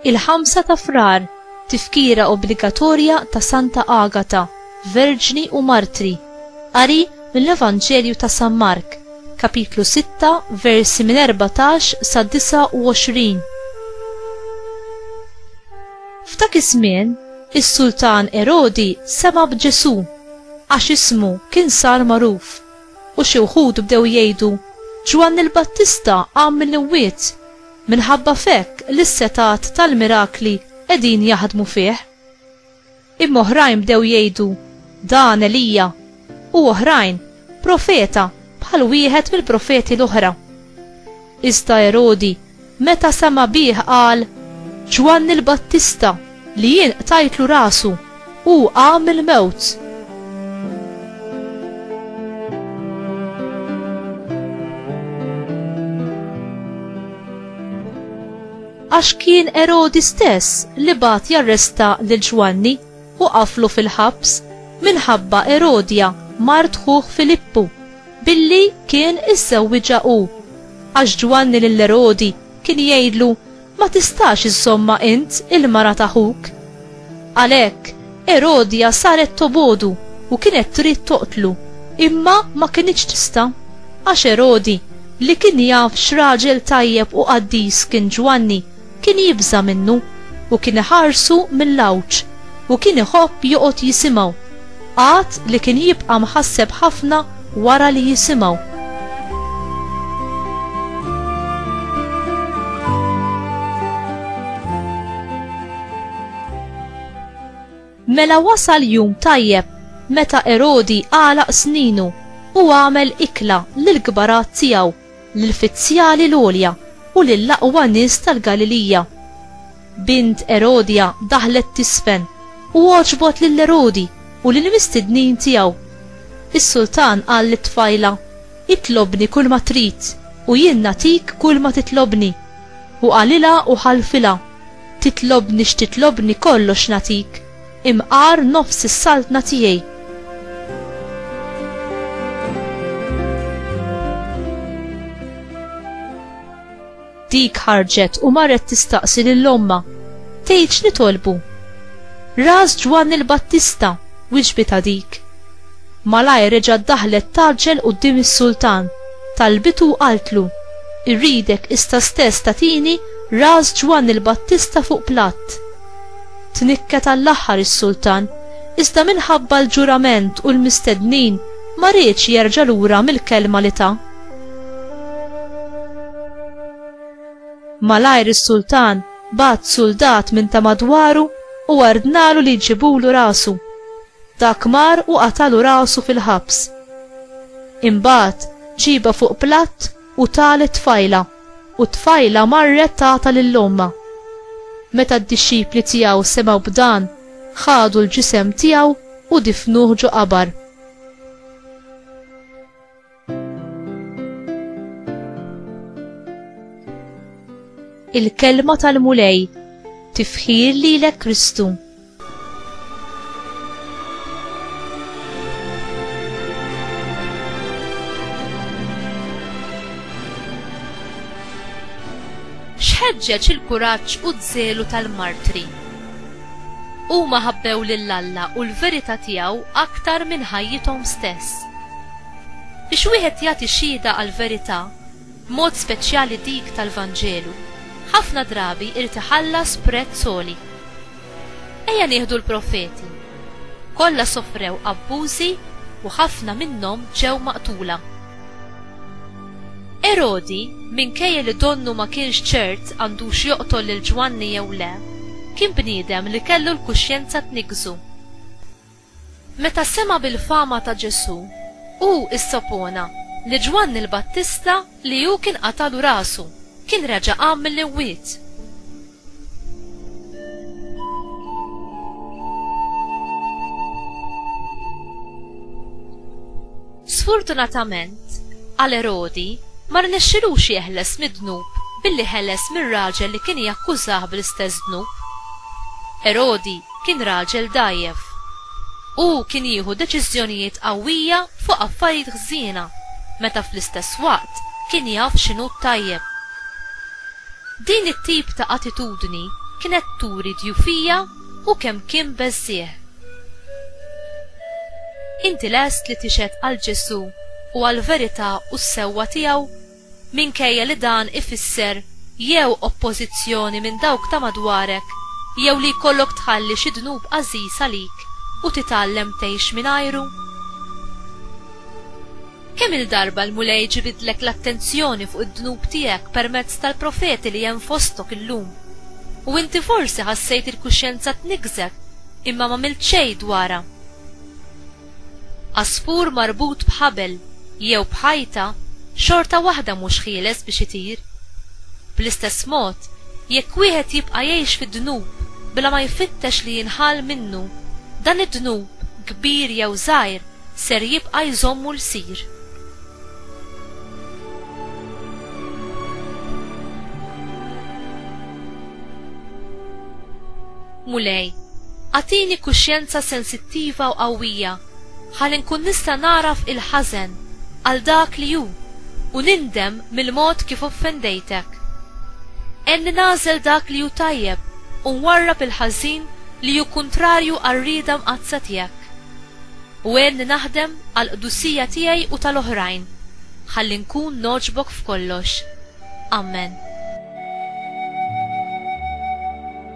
Il-ħamsa ta' frar, tifkira obbligatorja ta' Santa Agata, Verġni u Martri. Qari mill-Evanġelju ta' San Mark, kapitlu 6, versi minn 14 sa 29. F'dak iż-żmien, is-Sultan Erodi sema' b'Ġesù, għax ismu kien sar magħruf, u xi wħud bdew jgħidu, Ġwanni l-Battista qam mill-imwiet, minħabba f'hekk li s-setgħat tal-mirakli qegħdin jaħdmu fih. Imma oħrajn bdew jgħidu, Dan Elija, u oħrajn, Profeta bħal wieħed mill-profeti l-oħra. Iżda Erodi, meta sema' bih qal, Ġwanni l-Battista, li jien qtajtlu rasu, hu qam mill-mewt. Għax kien Erodi stess li bagħat jarresta lil Ġwanni u qaflu fil-ħabs minħabba Erodja mart ħuh Filippu, billi kien iżżewwiġha hu. Għax Ġwanni lil Erodi kien jgħidlu, Ma tistax iżżommha int il-mara ta' ħuk. Għalhekk, Erodja saret tobogħdu u kienet trid toqtlu, imma ma kinitx tista', għax Erodi, li kien jaf x'raġel tajjeb u qaddis kien Ġwanni, kien jibża' minnu, u kien iħarsu mill-għawġ, u kien iħobb joqgħod jisimgħu, għad li kien jibqa' mħasseb ħafna wara li jisimgħu. Mela wasal jum tajjeb meta Erodi għalaq sninu u għamel ikla lill-kbarat tiegħu, lill-fizzjali l-għolja u lill-aqwa nies tal-Galilija. Bint Erodja daħlet tiżfen u għoġbot lil Erodi u lill-mistednin tiegħu. Is-sultan qal lit-tfajla, Itlobni kulma trid, u jien nagħtik kulma titlobni. U qalilha u ħalfilha, Titlobni x'titlobni kollox nagħtik, imqar nofs is-saltna tiegħi. Dik ħarġet u marret tistaqsi lil ommha, tgħid x'nitolbu. Ras Ġwanni l-Battista, wiġbitha dik. Malajr reġgħet daħlet tgħaġġel quddiem is-sultan, talbitu u qaltlu, Irridek issa stess tagħtini ras Ġwanni l-Battista fuq platt. Tnikket għall-aħħar is-sultan, iżda minħabba l-ġurament u l-mistednin ma riedx jerġa' lura mill-kelma li ta. Malajr is-sultan bagħat suldat minn ta' madwaru u ordnalu li jġibulu rasu. Ta' Kmar u qatalu rasu fil-ħabs. Imbagħad ġiebha fuq platt u tah lit-tfajla, u t-tfajla marret tagħtha lil ommha. Meta d-dixxipli tiegħu semgħu b'dan, ħadu l-ġisem tiegħu u difnuh ġo qabar. il-kelma tal-Mulej, tifħir li l Kristu. Xħedġeċ il-kuraġġ u d-żelu tal-martri. Huma ħabbew lil Alla u l-verità tiegħu aktar minn ħajjithom stess Biex wieħed jagħti xhieda għall-verità, b'mod speċjali dik tal-Vanġelu, ħafna drabi irid iħallas prezz għoli. Ejja nieħdu l-profeti. Kollha sofrew abbużi u ħafna minnhom ġew maqtula. Erodi, minkejja li donnu ma kienx ċert għandux joqtol lil Ġwanni jew le, kien bniedem li kellu l-kuxjenza tniggżu. Meta sema' bil-fama ta' Ġesù, hu issopona li Ġwanni l-Battista li hu kien qatalu rasu, kien reġa' qam mill-imwiet. Sfurtunatament għal Erodi, ma rnexxilux jeħles mid-dnub billi ħeles mir-raġel li kien jakkużah bl-istess dnub. Erodi Kien raġel dgħajjef. Hu kien jieħu deċiżjonijiet qawwija fuq affarijiet ħżiena meta fl-istess waqt kien jaf x'inhu t-tajjeb. Din it-tip ta' attitudni kienet turi dgħufija u kemm kien beżżiegħ. Inti lest li tixhed għal Ġesù u għall-verità u s-sewwa tiegħu? minkejja li dan ifisser jew oppożizzjoni minn dawk ta' madwarek jew li jkollok tħalli xi dnub għażiż għalik u titgħallem tgħix mingħajru? Kemm-il darba l-Mulej ġibidlek l-attenzjoni fuq id-dnub tiegħek permezz tal-profeti li hemm fostok illum, u inti forsi ħassejt il-kuxjenza tniggżek imma m'għamilt xejn dwarha? Għasfur marbut b'ħabel jew b'ħajta xorta waħda mhux ħieles biex itir. Bl-istess mod, jekk wieħed jibqa' jgħix fid-dnub bla ma jfittex li jinħall minnu, dan id-dnub, kbir jew żgħir, ser jibqa' jżommu lsir. Mulej, agħtini kuxjenza sensittiva u qawwija ħalli nkun nista' nagħraf il-ħażen għal dak li hu u nindem mill-mod kif offendejtek. Għenni nagħżel dak li hu tajjeb u nwarrab il-ħażin li hu kuntrarju għar-rieda mqaddsa tiegħek. U għenni naħdem għall-qdusija tiegħi u tal-oħrajn, ħalli nkun nogħġbok f'kollox. Ammen.